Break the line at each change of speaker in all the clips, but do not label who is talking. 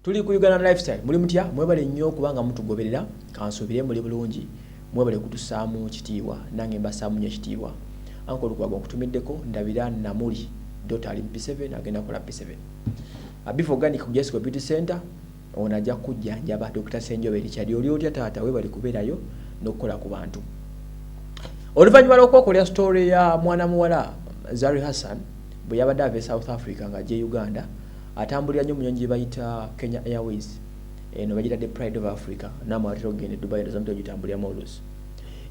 tuli ku uganda lifestyle muli mutya mwebale nnyo kubanga mutugoberera kansuubire muli bulungi mwebale kutusaamu kitiibwa nange mbasaamu nyo ekitiibwa anka olukwaga okutumiddeko ndabira namuli dota ali mu p7 agenda kola p7 abifa organic ku jessica beauty center Ono ajja kukujjanjaba Dokita Ssenjobe Richard. Oli otya taata webale kuberayo nokukola ku bantu. Oluvanyuma lwokwokolera story ya mwana muwala Zari Hassan bweyabadde ava e South Africa nga ajja e Uganda atambulira nyo munyonyi gyebayita Kenya Airways eno bagitadde pride of africa namu atera okugenda edubai eno zamutera ogitambuliramu oluusi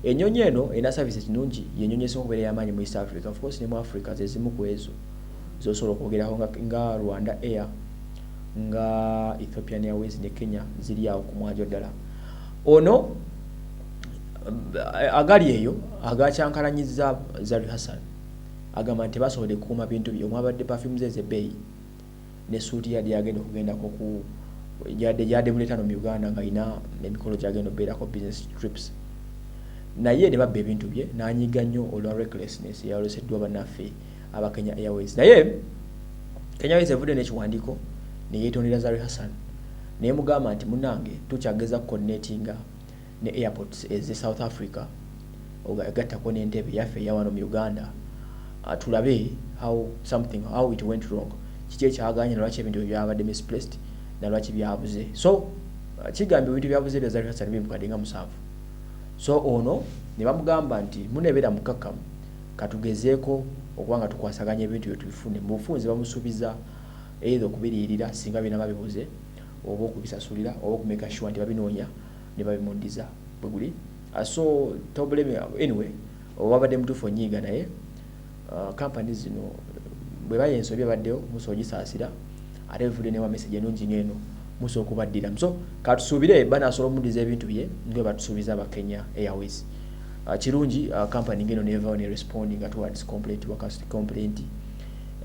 enyonyi eno erina service ekinungi yenyonyi esinga okubeera yamaanyi mu east africa of course ne mu africa zezimu ku ezo zosobola okwogerako nga, nga rwanda air nga Ethiopian Airways ne Kenya ziri awo ku mwanjo ddala. Ono agali eyo agakyankalanyizza Zari Hassan agamba nti tebasobodde kukuuma bintu bye omwabadde perfume ze ez'ebbeeyi ne suuti yadde yagenda okugendako ku yadde yadde muleeta no mu Uganda ng'alina emikolo gy'agenda okubeerako business trips naye ne babba ebintu bye n'anyiiga nnyo olwa recklessness eyaloseddwa bannaffe aba Kenya Airways naye Kenya Airways evudde n'ekiwandiiko ne yeetondera Zari Hassan naye mugamba nti munange tukyageza ku coordinatinga ne airports eze South Africa egattako n'entebe yaffe eyawano mu Uganda ah, tulabe how something how it went wrong kiki ekyaganye nalwaki ebintu ebyo byabadde misplaced nalwaki byabuze so ah, kigambye ebintu byabuze bya Zari Hassan bimukadde nga musanvu so ono ne bamugamba nti munebeera mukakkamu Katugezeeko okuba nga tukwasaganya ebintu ebyo tubifune. Mu bufunze bamusubiza either okubiriyirira singa binaba bibuze oba okubisasulira oba okumaker sure nti babinoonya nebabimudiza bweguli so toblame anyway wabadde mutuufu onyiiga naye company zino bweba yensobi ebaddewo musobola ogisaasira. Ate nfudde newa message enungi ngeno musa okubaddiramu so katusuubire banasobola omuddiza ebintu bye nga batusuubiza aba Kenya Airways uh, kirungi uh, company ngeno nevawo ne responding towards complaint wa complaint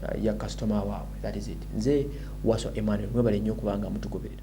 uh, ya customer waabwe that is it nze waso Emmanuel mwebale nnyo okubanga mutugoberera